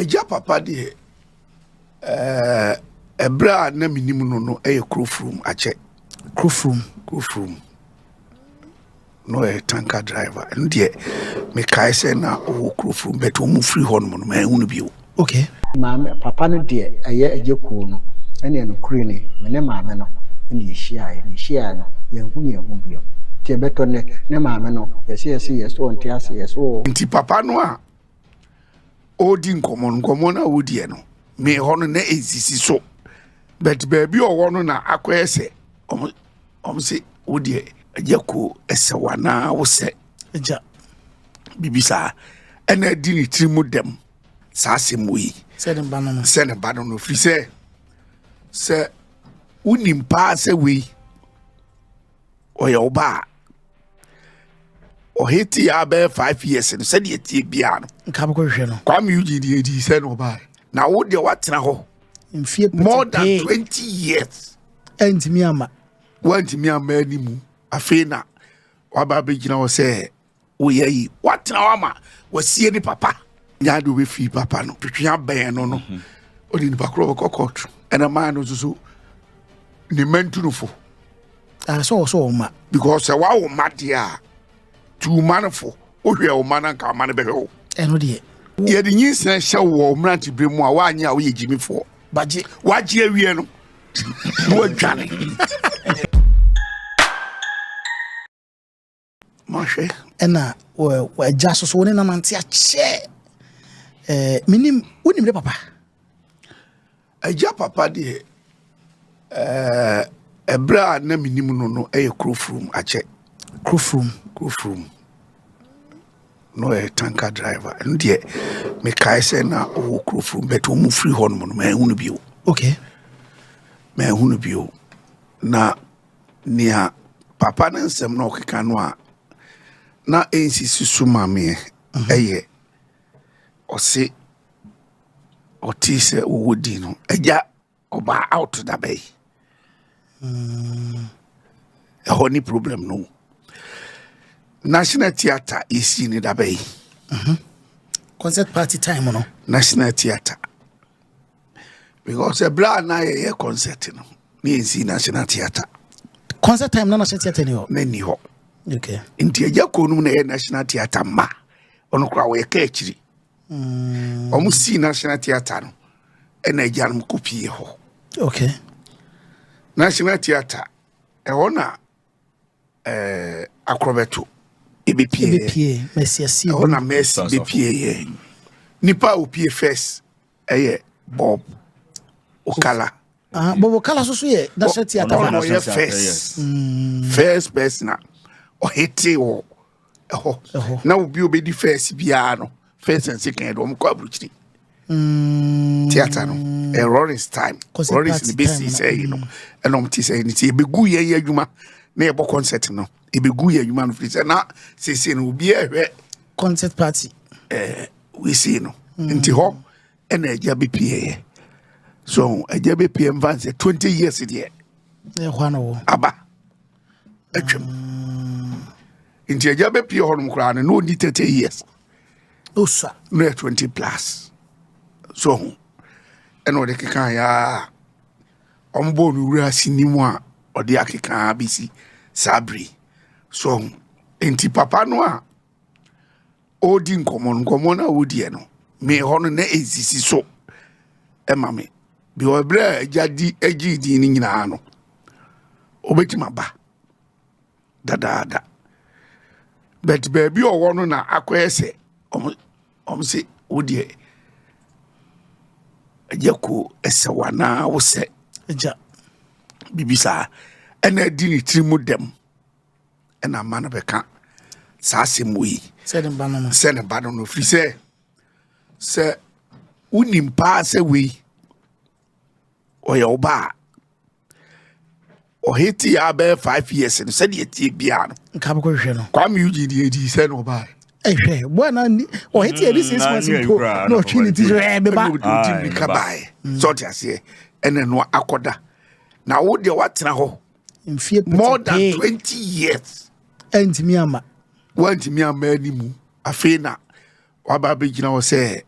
agya papa deɛ ɛɛ ɛbrɛ a na mi nim no no ɛyɛ kurofurum akyɛ. kurofurum. kurofurum. na ɔyɛ tanker driver ɛno deɛ mekae sɛ na ɔwɔ kurofuru but wɔn mu firi hɔ nom no mɛhu no bio. ok maame papa no deɛ ɛyɛ ɛyɛ kuo no ɛne ɛno kure ni me ne maame no ɛne ɛhyia ayɛ ne ɛhyia ayɛ no yɛn hu yɛn ho bio nti ɛbɛtɔ nɛ ne maame no yɛsɛ yɛsɛ yɛ so ɔnte ase yɛ so ɔ. nti papa no a ɔredi nkɔmɔ nkɔmɔ no a wɔdiɛ no me hɔ no na ɛsisi so but baabi ɔwɔ no na akɔyɛ sɛ ɔmo. Wɔn se wo deɛ ɛyɛ ko ɛsɛ wo anaa wo sɛ agya biribi saa ɛna adi ne tiri mu dɛm saa asɛm wɔ yi sɛ ne ba no no sɛ ne ba no no firi sɛ sɛ wonim paa sɛ wei ɔyɛ wo ba a ɔhete yɛ abɛyɛ five years no sɛdeɛ tie biara no nka bɛkɔhwehwɛ no kwame ugye deɛ ɛdii sɛ na ɔbaɛ na wo deɛ woatena hɔ mfie pete more than twenty years ɛntumi ama wantumi ama ani mu afei na waba abɛgyina hɔ sɛ woyɛ yi watena hɔ ama wasie ne papa nyaa de wobɛfii papa no twetwe abɛn no no mhm. ɔde nipa korɔ bɛkɔ kɔɔto ɛna maa no nso so ne mantunufo ɛsɛ sɛ wɔ so wɔ ma because sɛ woawo ma deɛ a Tu mma no fo. Wohwɛ wo mma no anka ama no bɛhwɛ wo. Ɛno deɛ. Yɛde nyinsɛn hyɛ wo wɔ mmerantebere mu a woanyɛ a woyɛ gyimifoɔ. Bagye. Wagye awie no na wadwane. Mahwɛ. Ɛna agya so so wo ne nanante akyɛ. Menim wonim dɛ papa. Agya papa deɛ, ɛɛ ɛberɛ a na menim no no ɛyɛ Kurofurum akyɛ. Kurofurum. Kurofurum. Na ɔyɛ tanka driver. Ɛno deɛ mekae sɛ na ɔwɔ Kurofurum bɛt wɔn firi hɔ nom no manhu no bio. Okay. Manhu no bio. Na nea papa ne nsɛm na ɔkeka no a na ɛnsisi so ma meɛ mhm. ɛyɛ ɔse ɔtee sɛ wɔwɔ din no agya ɔbaa out dabɛ yi hmm. ɛhɔ ne problem no national theatre yɛsii ne dabɛ yi mhm. concert party time no national theatre because ɛberɛ a na yɛyɛ concert no ne yɛnsii national theatre concert time na national theatre ni hɔ na ni hɔ okay. nti agya kɔɔ nom na ɛyɛ national theatre ma ɔno koraa wɔyɛ ka akyiri wɔn mm. sii national theatre no ɛna agya no kɔ pie hɔ okay national theatre ɛhɔ na ɛɛ akorɔbɛto ebepie ebepie mɛsi asi ɛhɔ na mɛsi ebepie yɛ nipa a opie first ɛyɛ bob okala. Ah, bob okala soso yɛ national theatre. ɔno na ɔyɛ first mm. first person a ɔhete wɔ. ɛhɔ na obi obedi fɛs biara no fɛs and second de wɔn kɔ aburukyiri mm. theatre no ɛ eh, Lawrence time Lawrence ne besi sɛ yi no ɛna wɔn ti sɛ yi no ti ebegu yɛn yɛ adwuma na yɛbɔ concert no ebegu yɛn adwuma no firi sɛ na sese no obi ɛhwɛ concert party ɛɛ eh, wesi no mm. nti hɔ ɛna ɛgya bi pie yɛ so ɛgya bi pie nfa nsɛ twenty years deɛ ɛhɔ na wɔ aba. atwam nti agya bɛpie hɔ nom koraa no na ɔdi 30 years ɔsua na yɛ 20 plus so ho ɛna ɔde keka yɛa ɔmbɔɔ no wura sini mu a ɔde akekaa bɛsi saa bere so ho nti papa no a ɔredi nkɔmmɔ no nkɔmmɔ no a wɔdiɛ no me hɔ no na ɛsisi so ma me because berɛ a agya di agye din no nyinaa no ɔbɛtumi aba dadaada but baabi a ɔwɔ no na akɔyɛ sɛ ɔm se wodeɛ agya kuo ɛsɛ wo anaa wosɛ agya biribi saa ɛna adi ne tiri mu dɛm ɛna mma no bɛka saa asɛm wɔ yi sɛ ne ba no no sɛ ne ba no no firi sɛ sɛ wonim paa sɛ wei ɔyɛ wo ba a ɔhete yɛ abɛyɛ five years no sɛdeɛ tie biara no nka bɛkɔ hwehwɛ no kwame ug deɛ ɛdi sɛ na ɔbaɛ ɛhwɛ boa na ɔhete yɛ de six mm, months mpo na ɔtwe ne ti sɛ ɛɛ beba ɔdi mmirika baɛ sɛ ɔte aseɛ ɛna no akɔda na wo deɛ woatena hɔ mfie pete more than pee twenty years ɛntumi ama wantumi ama ani mu afei na waba abɛgyina hɔ sɛ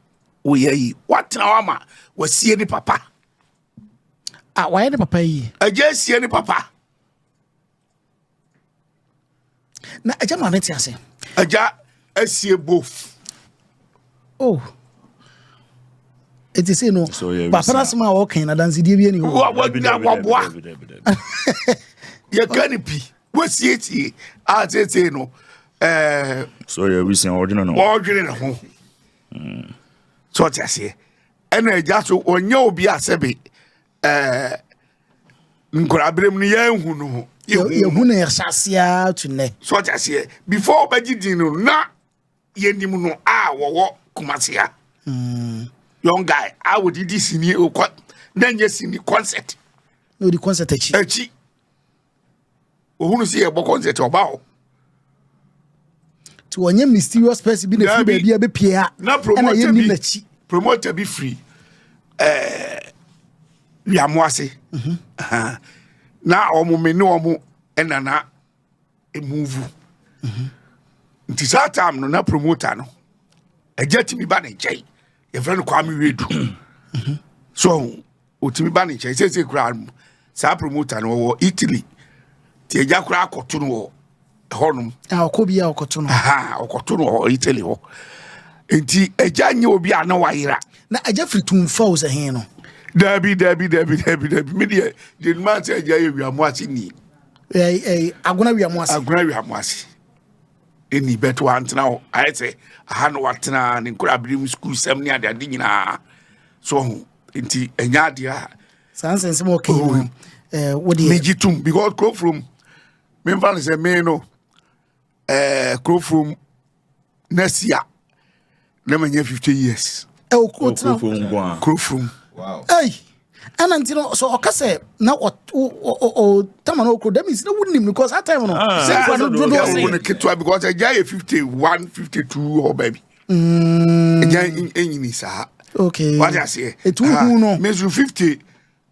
woyɛ yi watena hɔ ama wasie ne papa a wayɛ ne papa yi agya asie ne papa na agya ma ne te ase agya asie bof oh ɛti sei no bapana asɛm a wɔkan no adansedie bi ani hɔwaboa yɛka no pi wasiesie a seesei no eh, so yɛ wisia ɔdwene no ɔdwene ne ho hmm. so ɔte aseɛ ɛna agya so ɔnyɛ obi asɛbe ɛɛ nkoraberem no yɛnhu no ho yɛhu no yɛhyɛ aseɛ to nnɛ so ɔte aseɛ before ɔbɛgye din no na yɛnim no a wɔwɔ kumasea hmm. young guy a wɔde di sini okɔ na nyɛ sini concert na ɔdi concert akyi akyi ohunu sɛ yɛbɔ concert ɔba hɔ nti wɔnyɛ mysterious person bi na ɛfiri baabi a bɛpie a ɛna yɛnni n'akyi promoter bi firi eh, wiamo ase mhm. na wɔn me ne wɔn ɛna na emuvu mhm. nti saa time no na promoter no ɛgya tumi ba ne nkyɛn yɛfrɛ no kwame wedu mhm. so Ɔtumi ba ne nkyɛn seesei koraa no. Saa promoter no ɔwɔ Italy nti agya koraa akɔto no wɔ hɔnom. A ɔkɔ bi a ɔkɔto no. Aha ɔkɔto no wɔ Italy hɔ. Nti agya nyɛ obi a na wayera. Na agya firi Tumfa o sɛ he no. Daabi daabi daabi daabi daabi me deɛ deɛ nima sɛ agya yɛ wiamoase ni. Ɛɛ agona wiamoase. Agona wiamoase. ɛnni bɛto wantena hɔ ayɛ sɛ aha na watena ne nkoraberem sukuusɛm ne adeade nyinaa so ho nti ɛnyɛ adeɛ a saa nsɛnsɛm ɔka yi no eh, wodeɛ megye tom because kurofurom memfa no sɛ me no eh, kurofurom nasia na manya 50 years ɛwɔ kuro tena kuro furum ɛyi ɛna nti no so ɔka sɛ na ɔtama no ɔkuro dɛm nsi na wonim no because that time no ah. sɛ nkwa no dodoɔ sɛ no ketewa because agya yɛ 51 52 hɔ baabi mm. agya ɛnyini saa wate aseɛ ɛtu hu no ah, mesu 50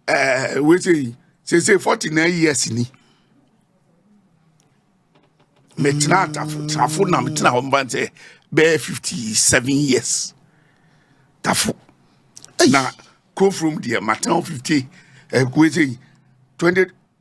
ɛɛ eh, wei sei seesei forty nine years ni mɛtena atafo tafo na mɛtena hɔ mba sɛ bɛyɛ fifty seven years tafo na kofurom deɛ matena hɔ fifty ɛɛ eh, wei sei twenty.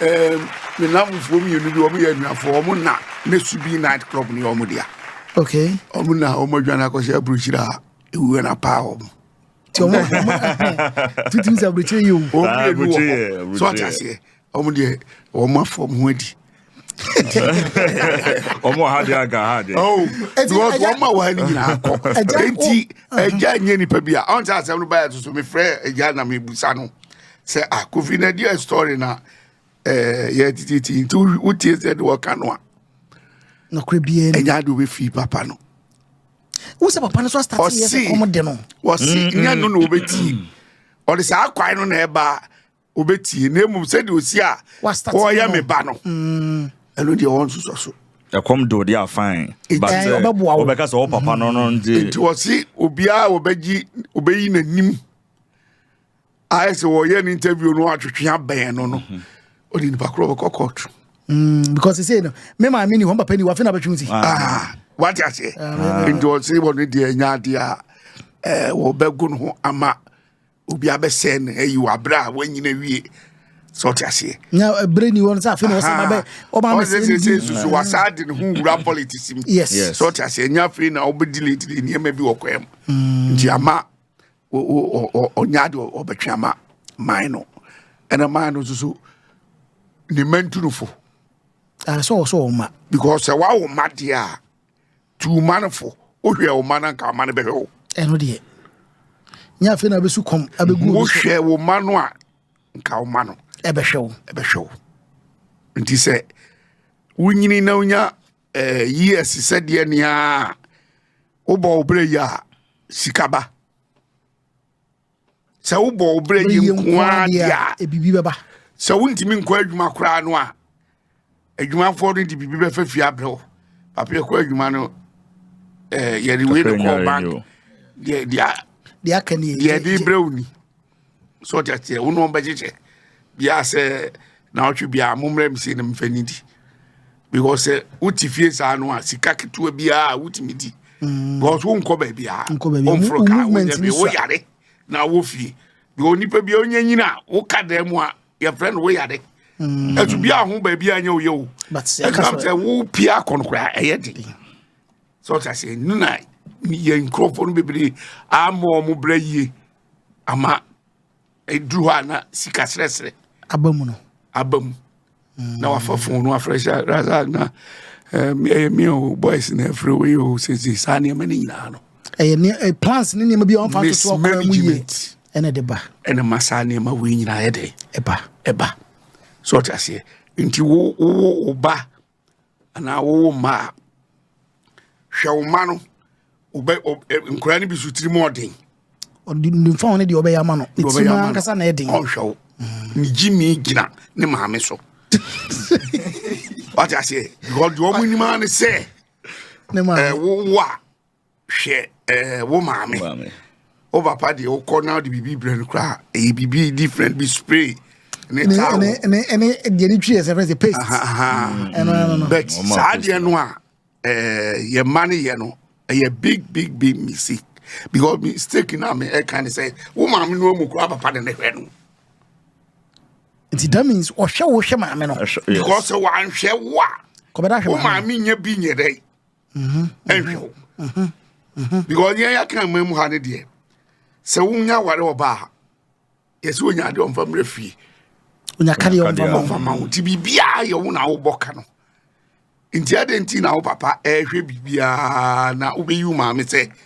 Ɛɛ me namfoɔ mmienu bi wɔn yɛ anuafoɔ wɔn na ne subi night club ne wɔn dea. Okay. Wɔn na wɔn adwane akɔhyɛ aburukyiri a ewuo na paa wɔn. Ti wɔn wɔn tutum sɛ aburukyiri yi o. Wɔn mmienu wɔ hɔ so ɔte aseɛ wɔn deɛ wɔn afɔ wɔn ho adi. ɔmo wɔ ha deɛ anka ha deɛ oh, because wɔn ma wɔ ha no nyinaa kɔ enti agya oh. nyɛ nipa bi a ɔn sɛ asɛm no baeɛ to so mefrɛ agya na mebusa no sɛ ah kofi na deɛ story na eh, yɛ tititi nti wotie sɛ de wɔka no a nɔkorɛ biaa ni ɛnyɛ ade wobɛfii papa no wo sɛ papa no so astate yɛ sɛ kɔm de no wɔse nyɛ no na wɔbɛtii ɔde saa kwae no na ɛbaa obetie na mmom sɛdeɛ osi a ɔyɛ me ba no mm. ɛno deɛ wɔn nso so. ɛkɔm do deɛ afan but sɛ wɔbɛka sɛ ɔpapa no no nti. nti wɔsi obiara wɔbɛgye wɔbɛyi n'anim ayɛ sɛ wɔyɛ ne interview no atwetwe abɛn no no mhm. ɔde nipa korɔ bɛkɔ kɔɔto. Mm, because sɛ no me maame ni hɔ mpapa ni wafe na bɛtwe si ah, wate aseɛ ah. nti ɔse wɔno deɛ ɛnya adeɛ a eh, wɔbɛgo no ho ama obi abɛsɛe no ayi wɔ abere a wanyina wie sɛ ɔte aseɛ na ɛberɛ ni hɔ no sɛ afei na ɔsɛ mabɛ ɔma me sɛ sɛ sɛ susu wasaa de ne ho wura politics mu yes sɛ ɔte aseɛ ɛnyɛ afei na wobɛdi lately nneɛma bi wɔ kwaa mu mm. nti ama ɔnya ade ɔbɛtwe ama man no ɛna man no nso so ne mantunufo ɛsɛ ɔsɛ ɔma because sɛ wawo ma deɛ a tu wo mma no fo wohwɛ wo mma no anka ɔma no bɛhwɛ wo ɛno deɛ nyɛ afei na wobɛsu kɔm abɛgu wohwɛ wo mma no a nka wo mma no ɛbɛhwɛ wo ɛbɛhwɛ wo nti sɛ wonyini na wonya eh, years sɛdeɛ nea wobɔ wo berɛ yi a sika ba sɛ wobɔ wo berɛ yɛ nkoa deɛ a ɛbibi bɛba sɛ wontumi nkɔ adwuma koraa no a adwumafoɔ no de biribi bɛfa fie abrɛ wo papa yɛkɔ adwuma no eh, yɛde wei ne kɔɔ bank deɛ de brɛ wo ni sɛ ɔde ateɛ wo ne ɔmbɛkyekyɛ biaa sɛ na ɔtwe biaa mommrɛ me sei no mfa ni di because sɛ wote fie saa no a sika ketewa biara wotumi di mm. because wonkɔ baabi a womforo ka wonyɛ bi woyare na wɔ fie bi onipa bi ɔnyɛ nyina a woka dan mu a yɛfrɛ no woyare mm. ɛso bi a ho baabi a nyɛ woyɛ o ɛkam sɛ wopie akɔ no koraa ɛyɛ de sɛ ɔta sɛ no na yɛ nkurɔfoɔ no bebree ama ɔmo berɛ yie ama Ɛduru hɔ a na sika serɛserɛ. Aba mu no. Aba mu. Mm. Na wafa fon no afrɛ sɛ rasa na ɛyɛ eh, me o boys na afrɛ wei o sese saa nneɛma no nyinaa no. Ɛyɛ ne eh, plans ne nneɛma bi a wɔfa toto ɔkwan mu yie. Ɛna de ba. Ɛna ma saa nneɛma wei nyinaa yɛ dɛ. Ɛba. Ɛba. So ɔte aseɛ. Nti wo wo wo ba anaa wowo mma a, hwɛ wo mma no, nkwadaa no bi so tirim ɔden. Ɔdunfɔn ne deɛ ɔbɛyɛ ama no, ne tirim ankasa na ɛden. Ɔnhwɛ wo, ne gyimi gyina ne maame so. Wate aseɛ, because deɛ wɔn anim ara ne sɛ, ɛwowo a hwɛ eh, wo maame wo papa deɛ wokɔ na wode biribi brɛ no koraa ɛyɛ biribi different bi spray ne taa wɔ deɛ ne twi yɛ sɛ fɛ sɛ paste mm. but saa deɛ no a eh, yɛ ma no yɛ no ɛyɛ big big big mistake because mistake na me ɛka ne sɛ wo maame no amu koraa papa de ne hwɛ no nti that means ɔhwɛ wo hwɛ maame no because sɛ wanhwɛ wo a wo maame nya bi nyɛ dɛ mhm, ɛnhwɛ wo mhm, mhm. because yɛn yɛaka ma mu ha ne deɛ sɛ wonya aware wɔ baa ha yɛsɛ wonya adeɛ ɔmfa mmerɛ fie ɔmfa ma wo nti biribiaa yɛ wo na wobɔ ka no nti adɛn nti na wo papa ɛhwɛ biribiaa na wobɛyi wo maame sɛ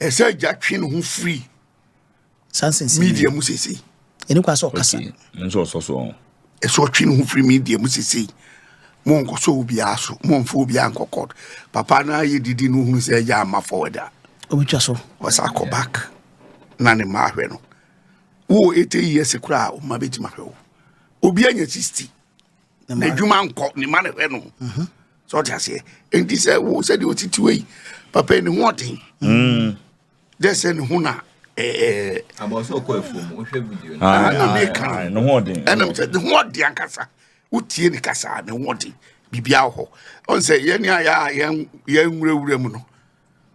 Ɛsɛ sɛ agya twe ne ho firi media mu sesei. Ɛni kwa sɛ ɔkasa. Nso ɔsɔ so ɔn. Ɛsɛ ɔtwe ne ho firi media mu sesei. Mo nkɔsɔ obiara so, mo mfa obiara nkɔ court. Papa no ayɛ didi no ohunu sɛ agya ama forward a. Obitwa so. Ɔsa akɔ back na ne mma ahwɛ no. Wo 80 years koraa, wo mma bɛtumi ahwɛ wo. Obi anya 60. n'adwuma nkɔ ne ma ne hwɛ no mhm. sɛ ɔte aseɛ enti sɛ wo sɛdeɛ ɔtitiwa yi papa ne ho ɔden mm. dɛ sɛ ne ho na abɔso ɔkɔ afuom wohwɛ video no ah, na meka ah, ne ho ɔden ɛnam sɛ ne ho ɔden ankasa wotie ne kasa ne ho ɔden biribia wɔ hɔ ɔn sɛ yɛne a yɛnwurawura mu no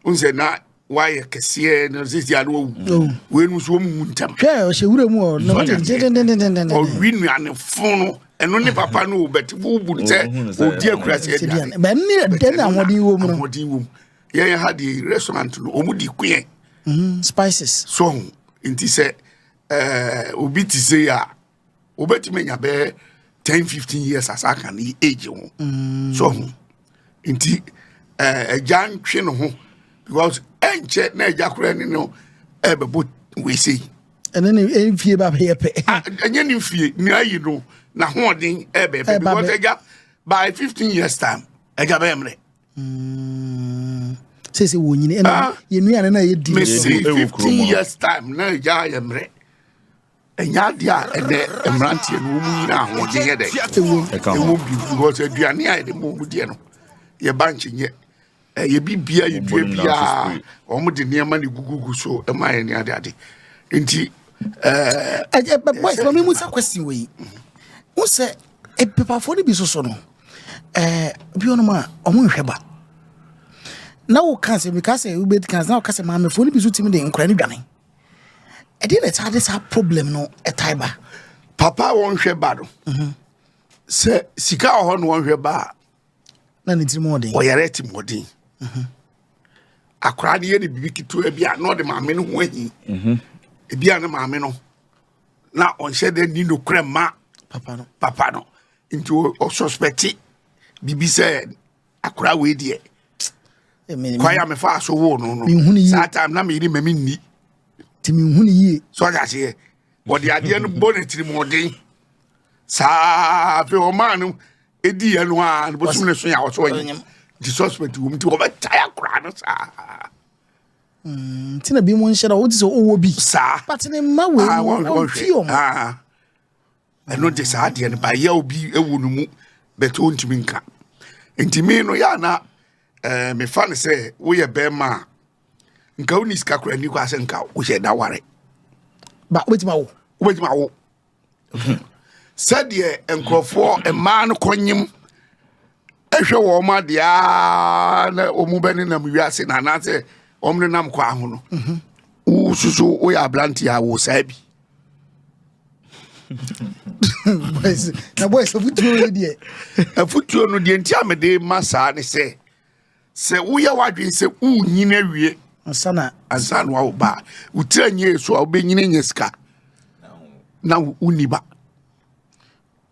n sɛ na wayɛ kɛseɛ na sisi ano awu wei no nso wɔn mu ntɛm. hwɛ ɔhyɛ wura mu ɔ na wɔn tɛ dendendendenden. ɔwi nuanefo no ɛno ne papa no o bɛti wo bu sɛ odi akurasi aduane. bɛn ne dɛn na ahoɔden wɔ mu no. ahoɔden wɔ mu yɛn ha de restaurant no wɔn di kuyɛ. spices. so nti sɛ ɛɛ obi ti se a. wobɛtumi anya bɛɛ 10 15 years asa aka ne age ho mm. so ho nti eh, agya ntwe ne ho because ɛnkyɛ na agya koraa ne no ɛbɛbɔ wesei ɛne ne mfie ba bɛyɛ pɛ ah, ɛnyɛ ne mfie ne ayi no n'ahoɔden ɛbɛyɛ pɛ because agya by 15 years time agya bɛyɛ mmerɛ mm. sese wɔ nyini ɛna ah. yɛ nuane na yɛ di mesi 15 years time na agya yɛ mmerɛ Ɛnyɛ adeɛ a ɛnɛ mmeranteɛ no wɔn nyina ahoɔden yɛ dɛ ɛwɔ bi because aduane a yɛde ma wɔn deɛ no yɛba nkyenyɛ ɛyɛ bi bia yɛ dua biara wɔn de nneɛma ne gugugu so ɛma yɛ ne ade ade nti ɛɛ. ɛyɛ bɛ bɔ ɛfɛ mi mu sɛ kwesi wɔ yi n sɛ epepafoɔ no bi soso no ɛɛ bi wɔn a wɔn nhwɛ ba na wɔka sɛ bi ka sɛ ebi ka sɛ na wɔka sɛ maamefoɔ no bi so ti mi de nkura ne dwane. ɛdeɛ na ɛtaa de saa problem no ɛtae ba papa a wɔnhwɛ ba no mhm. sɛ sika wɔ hɔ na wɔnhwɛ ba a na ne tirim ɔden ɔyare atimɔden mhm. akwaraa no yɛ ne biribi ketewa bi a na ɔde maame no ho ahi mhm. ebi a ne maame no na ɔnhyɛ dɛ ni nokorɛ ma papa no papa no nti ɔsɔspɛte biribi sɛ akora wei deɛ kwan a mefaa so woo no no saa time na meyere ma menni nti menhu no yie so ɔde aseɛ wɔde adeɛ no bɔ no tirimɔden saa afei ɔmaa no ɛdiiɛ no a bɔsom no so yɛ awɔsɔ ɔnyɛ nti suspect wɔ m nti wɔbɛtae akora no saa mm, nti na bi mu nhyɛ na wote sɛ ɔwɔ bi saa but ne mma wei ah, wɔmfie ɔm ah. ɛno de saa adeɛ no bayɛ obi ɛwɔ no mu bɛtɛ ɔntumi nka nti mi no yɛ ana ɛɛ eh, mefa no sɛ woyɛ bɛrima a nka wo ni sika kora ni kɔ asɛ nka wohyɛ da ware ba wobɛtumi awo wobɛtumi awo sɛdeɛ nkurɔfoɔ mmaa no kɔnyem ɛhwɛ wɔn adeɛ aa na wɔn bɛ nenam wiase na anaasɛ wɔn nenam kwan ho no mhm. wosusu woyɛ aberante a wo saa bi na boys afutuo no deɛ afutuo no deɛ nti a mede ma saa ne sɛ sɛ woyɛ w'adwene sɛ wonyini awie ansa na ansa na wawo ba wotira nyɛ so a wobɛnyini nyɛ sika na wonni ba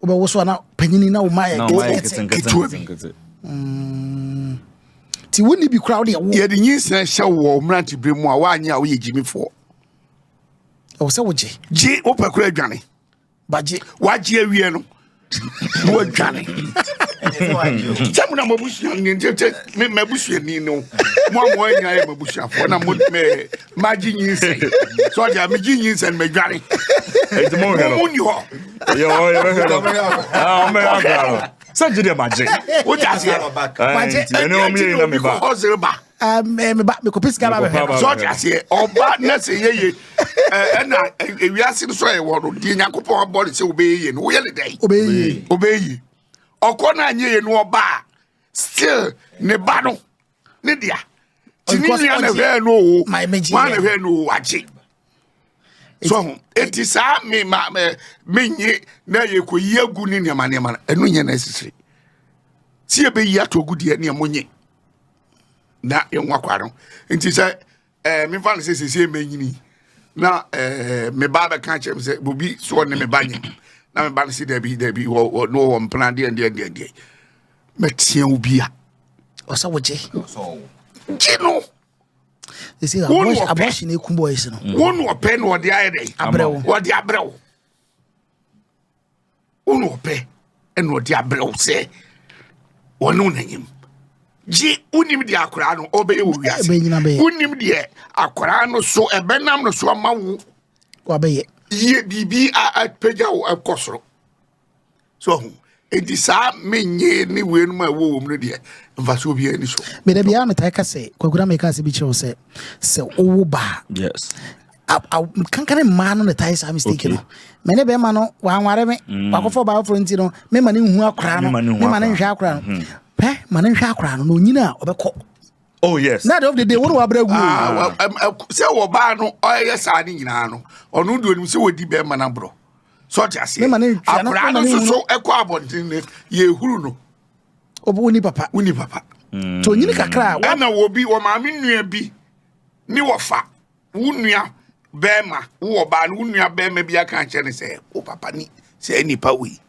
wobɛwoso a na panyini na woma yɛ ketewa bi mm. nti wonni bi koraa wode ɛwo yɛde nyinsena hyɛ wɔ wo mmerante berɛ mu a woanyɛ a woyɛ gyimifoɔ ɛwɔ sɛ wogye gye wopɛ kora adwane bagye wagye awie no na wadwane sɛ mo na mabusuani no mo a moanyina yɛ mabusuafoɔ na magye nyinsɛn sɛ ɔde a megye nyinsɛn madwane ɛnti mohwɛ no muni hɔ yɛbɛhwɛ no ɔmɛyɛ akora no sɛ gye deɛ magye wogye aseɛ magye ɛne ɔmyɛ yi na meba ɔsere ba meba mekɔpɛ sika ba bɛhwɛ sɛ ɔgye aseɛ ɔba na sɛ yɛye ɛna ewiase no so a yɛwɔ no deɛ nyankopɔn abɔ ne sɛ wobɛyɛ ye no woyɛ ne dɛn wobɛyɛ ye ɔkɔ no anyɛ ye no ɔba a still ne ba no ne dea ti ne nua na hwɛɛ no o wọn na hwɛɛ no o agye so ho eti saa mi ma mi nye na yɛ kɔ yi egu ne nneɛma nneɛma no ɛno nyɛ na esisiri si ebe yi ato ogu deɛ nneɛma nye na yɛn ho akwa no nti sɛ ɛɛ mefa no sɛ sɛsɛ mɛnyini na ɛɛ me ba bɛka kyerɛ me sɛ bobi so ɔne me ba nyɛ na me ba no sɛ dabi dabi wɔ wɔ no wɔ mpena deɛ deɛ deɛ deɛ mɛteɛ wo bi a ɔsɛ wogye gye no ɛsɛ Wo ni abortion- ɔpɛ. abortion ɛku boys no wo na ɔpɛ na ɔde ayɛ dɛ Abrɛ wo. ɔde abrɛ wo Wo na ɔpɛ na ɔde abrɛ wo sɛ ɔne wo nanyam. Gye wonim deɛ akwaraa no ɔbɛyɛ wɔ wiase. Wonim deɛ akwaraa no so ɛbɛnam no so ama wo. Wabɛyɛ. Yie biribi apagya wo ɛkɔ soro. So ho. Enti saa menye ne wei no ma ɛwɔ wɔ mu no deɛ mfasoɔ biara ni so. Meda biara metae ka sɛ kwagura meka sɛ bi kyerɛ wo sɛ sɛ wowo baa. Yes. kankane mmaa no na tae saa mistake no me ne bɛrima no wanware me mm. wakɔfɔ ɔbaa foforɔ nti no me ma ne nhu akora no me ma ne nhwɛ akora no mm-hmm. pɛ ma ne nhwɛ akora no na onyina a ɔbɛkɔ oh yes na dɔm dede wɔn wabere gu ah, sɛ wɔbaa no ɔyɛ saa ne nyinaa no ɔno deɛ onim sɛ wɔdi bɛrima no aborɔ sɛ ɔte aseɛ akora no soso ɛkɔ abɔnten no yɛhuru no ɔbɛ woni papa woni papa mm. nti onyini kakra ɛna wɔ bi wɔ maame nnua bi ne wɔfa Wo nua bɛrima, wo ɔbaa no, wo nua bɛrima bi aka akyerɛ no sɛ, wo papa ni sɛ nipa wei.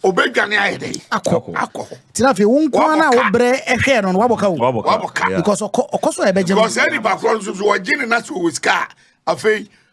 Obedwane ayɛ dɛ. Akɔ. Akɔ. Tina afei wo nkoa na wobrɛ ɛhwɛ no no wabɔ ka wo. Wabɔ ka. Because ɔkɔ ɔkɔ so a ɛbɛgye no. Because ɛni pa koro nso so ɔgye ne na so wɔ sika afei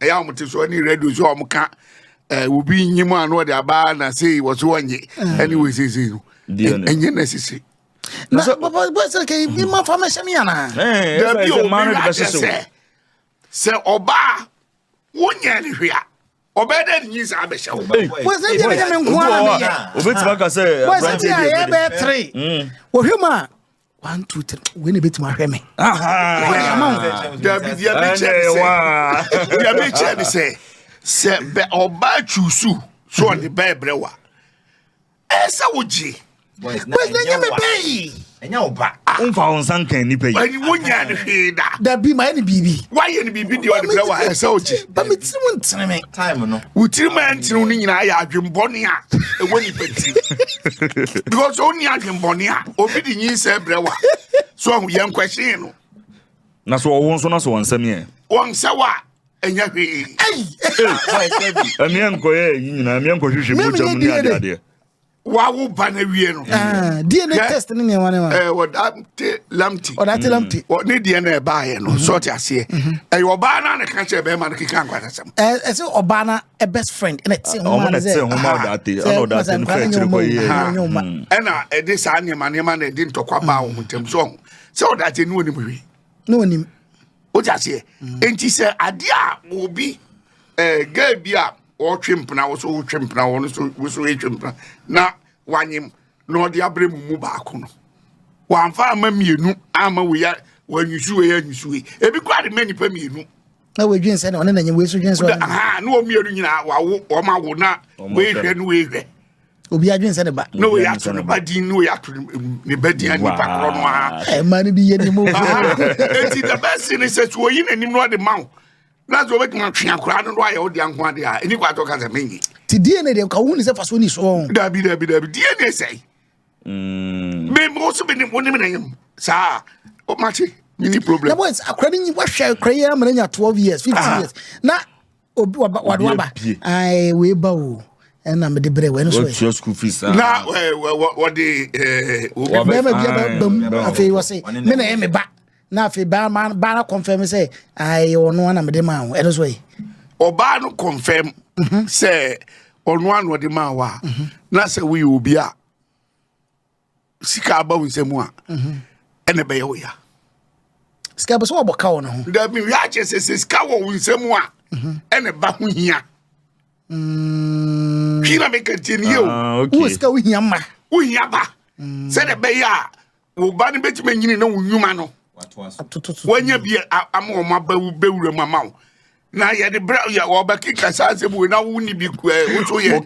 ɛyɛ a wɔte so ne radio so a wɔka eh, obi nyi mu ano ɔde aba na sei wɔ so ɔnye eh. ɛne wɔ seesei no ɛnyɛ na sese na bɔsɛ kɛ bi ma fa mɛhyɛ me anaa eh, dabi obi wade sɛ sɛ ɔbaa wonyɛ ne hwe a ɔbɛyɛ dɛ nyi saa bɛhyɛ wo bɔsɛ deɛ mɛnyɛ me nkoa na meyɛ obɛtumi aka sɛ aberante deɛ bɛyɛ bɛyɛ tere wɔhwɛ mu a one two three wei na ebetumi ahwɛ mi. dabi di abi kyɛ ni sɛ di abi kyɛ ni sɛ sɛ bɛ ɔbaa tuusu so ɔde bɛɛ brɛ wa ɛsɛ wo gye bɔs na nyɛ mi bɛɛ yi ɛnyɛ ɔba. Ah. n fa wɔn nsa nkan nipa yi. ɛni wo nya ni hwee da. dabi maa ni biribi. wayɛ ni biribi di ɔde brɛ wa ɛsɛ o gye. bami tiri mu ntiri mi. Wo tirim a ɛntenew no nyinaa yɛ adwembɔne a ɛwɔ nipa tirim. Because ɔnni adwembɔne a obi de nyinsɛ brɛ wa. So ahu yɛn kwɛhyee no. Na so ɔwo nso na so wɔnsɛm yɛ. Wɔnsɛ wa ɛnyɛ hwee. Ɛneɛ nkɔyɛ yi nyinaa meɛ nkɔhwehwɛ mogya mu ne adeadeɛ. wawo ba no awie no ah, dna test ne nneɛma ne ma eh, ɔdate lamte ɔdate lamte mm. ne deɛ no ɛbaeɛ no sɛ ɔte aseɛ mhm. ɛyɛ ɔbaa no a ne ka kyerɛ bɛrima no keka nkwatasɛm eh, ɛsɛ ɔbaa no ɛ best friend ɛna ɛte homa no sɛ homa ɔdate ɛna ɔdate no kra kyerɛ kɔ yie ɛna ɛde saa nneɛma nneɛma na ɛde ntɔkwa baa wɔn ntam so sɛ ɔdate ne wɔnim hwee na ɔnim wogye aseɛ enti sɛ adeɛ a obi eh, gaa bi a ɔretwe mpena wo so wotwe mpena wɔ no so wo so retwe mpena na wanyem na ɔde abrɛ mu mu baako no wamfa ama mmienu ama wei a wanyusu wei anyusu wei ebi kora de ma nnipa mmienu na wɔdwen sɛ na ɔne nanyi wei so dwen sɛ aha na wɔn mmienu nyinaa wawo wɔn awo na wei hwɛ na wei hwɛ obi adwen sɛ ne ba na wei ato ne ba din na wei ato ne ba din nipa korɔ no ara ɛma no bi yɛ ne mu eti the best thing is sɛ so oyi n'anim na ɔde ma wo na sɛ obetumi atwe akora no no ayɛ ɔde anko ade a ɛni kɔ atɔ kasa menyi ti dna deɛ ka wo hu ne sɛ faso ni soɔ dabi dabi dabi dna sɛe Mm. Me mo so benim wonim na yam. Saa. O mate. Mini problem. Na boys akra ni wahwɛ akra yi amana nya 12 years, 15 ah. years. Na obi waba wade waba. Ai we ba o. Ɛna me de brɛ wɛn so. Wɔtua school fees. Ah. Na wɔde eh, eh, obi bɛma bi aba bam afei wɔse me na ɛyɛ me ba. na afei baa ma baa no confirm sɛ ayɛ ɔno ana mede maa wo ɛno so ɛ ɔbaa no confirm mhm. sɛ ɔno ana ɔde maa wo a mhm. na sɛ woyɛ obi a sika aba wo nsɛm a mhm. ɛna ɛbɛyɛ wo ya sika bɛ sɛ wɔbɔ ka wɔ no ho dabi hwɛ akyɛ sɛ sɛ sika wɔ wo nsɛm a ɛna ɛba ho hia mm. hwi na meka tie nie o ah, wowɔ sika wohia ma wohia ba mm. sɛdeɛ ɛbɛyɛ a wo ba no bɛtumi anyini na wo nnwuma no wanya bi ama wɔn aba bɛwura mu ama wo na yɛde brɛ yɛ wɔbɛkeka saa asɛm wei na wonni bi woso yɛ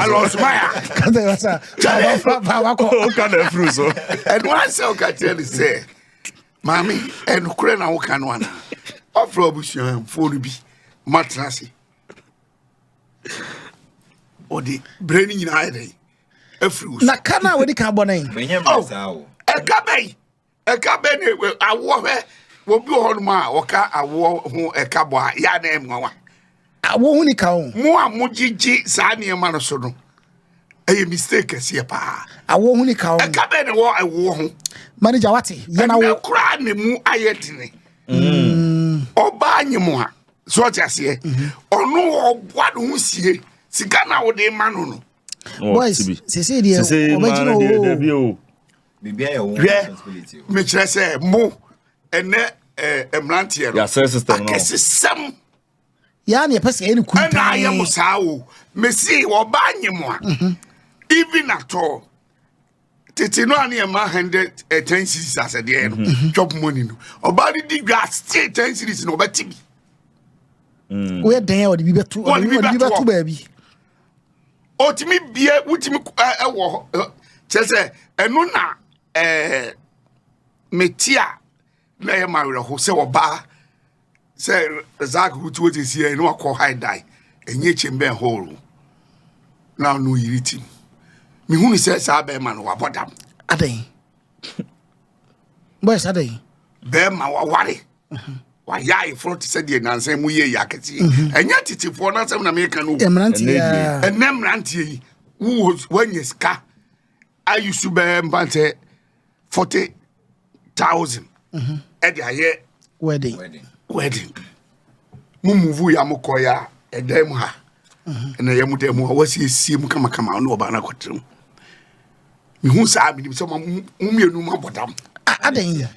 alɔsmaya ɛno asɛ woka kyerɛ ne sɛ maame ɛnokorɛ na woka no ana ɔfrɛ abusuamfoɔ no bi matena ase ɔde berɛ no nyinaa yɛ dɛn afiri wo so. na ka no a wɔdi kan bɔ no ɛ menyɛ mmerɛ oh. saa o ɛka bɛyi ɛka bɛ ne awoɔ hwɛ wɔbi wɔ hɔnom a wɔka awoɔ ho ɛka bɔ a yɛa na ɛmmoawa awoɔ ho ni ka o mo a mogyegye saa nneɛma no so no ɛyɛ mistake kɛseɛ paa awoɔ ho ni ka o ɛka bɛ ne wɔ awoɔ ho manager wate yɛna wo ɛnɛ koraa ne mu ayɛ dene mm. ɔbaa nye mu a so ɔte aseɛ mhm. ɔno ɔboa ne ho sie sika na wode ma no no boys sese deɛ ɔbɛgyina o hwɛ mekyerɛ sɛ mo ɛnɛ mmeranteɛ no akɛsesɛm yɛa ne yɛpɛ sɛ ɛne ku ɛna ayɛ mo saa o mese wɔba nye mo a mhm. even at all tete no a ne ɛma hundred eh, ten series asɛdeɛ no mm-hmm. chop money no ɔbaa no di dwa still ten series na ɔbɛte bi mm. woyɛ dɛn a ɔde bi bɛto ɔde bi bɛto baabi ɔtumi bie wotumi ɛwɔ kyɛ sɛ ɛno na ɛɛ meti a na ɛyɛ ma awerɛho sɛ ɔbaa sɛ zak wuti wo sisi yɛ na wakɔ high die ɛnyɛ kyɛ mbɛ hall na ɔno yiri ti mehunu sɛ saa bɛrima no wabɔ dam adɛn boys adɛn bɛrima waware mhm. wayɛ ayeforɔ te sɛ deɛ nansa mu yɛ yɛ akɛseɛ mhm. ɛnyɛ tetefoɔ no asɛm na meka no ɛnɛ mmeranteɛ yi woanya sika ayusu bɛɛ mpa sɛ forty thousand mhm. ɛde ayɛ wedding wedding mo muvu yɛ mo kɔ yɛ ɛdan mu ha mhm. ɛna yɛ mo dan mu a wɔasiesie mu kamakama ɔne ɔbaa no akɔtena mu mehu saa menim sɛ mo mmienu mu abɔ dam adɛn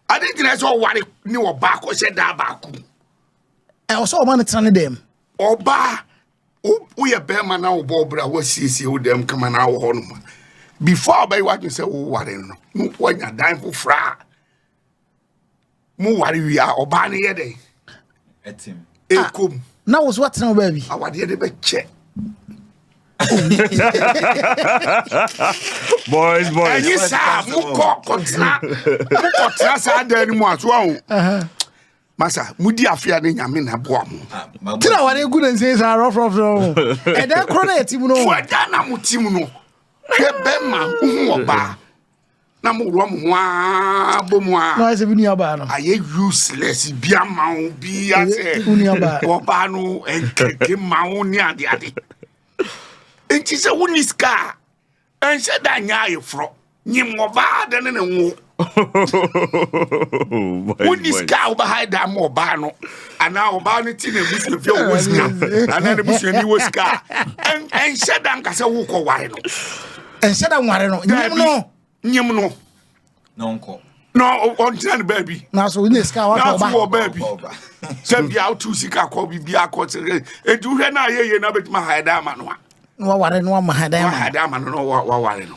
ade gyina sɛ ɔware ne ɔbaa kɔhyɛ daa baako ɛwɔ sɛ ɔma no tena ne dɛm ɔbaa woyɛ bɛrima na wobɔ ɔbra a woasiesie wo dɛm kama na awɔ hɔ nom a before a wobɛyɛ w'adwene sɛ woware no na woanya dan foforɔ a mo ware wie a ɔbaa no yɛ dɛn ɛkɔm ah, na wo so atena wo baabi awadeɛ no bɛkyɛ boys boys ɛnyi saa mokɔ kɔtena mokɔtena saa dan no mu aso aho masa mudi afe a ne nyame na boa mo tira ware gu ne nsen saa rɔfrɔfrɔ ho ɛdɛ korɔ na ɛtim no fo ɛda na mo tim no hwɛ bɛma wohu ɔbaa na mo wɔ mo ho aa bɔ mu aa na ɔyɛ sɛ bi nuabaa no ayɛ useless bi ama wo bi asɛ ɔbaa no ɛnkɛkɛ ma wo ne ade ade nti sɛ wonni sika a Ɛnhyɛ da nyɛ ayeforɔ. Nyim ɔbaa ade ne ne nwo. Wonni sika a wobɛhae da ma ɔbaa no anaa ɔbaa no ti na abusuafie a wɔwɔ sika anaa ne busuani wɔ sika a ɛnhyɛ da nka sɛ wokɔware no. Ɛnhyɛ da nware no. Nyim no. Nyim no. na ɔnkɔ na ɔntena ne baabi na so wonya sika wakɔ ɔba na so wɔ baabi sɛ bia wotu sika kɔ bibia kɔ sɛ ɛnti wohwɛ no a yɛyɛ no bɛtumi ahaɛ dan ama no a na waware no wama ha dan ama no na waware no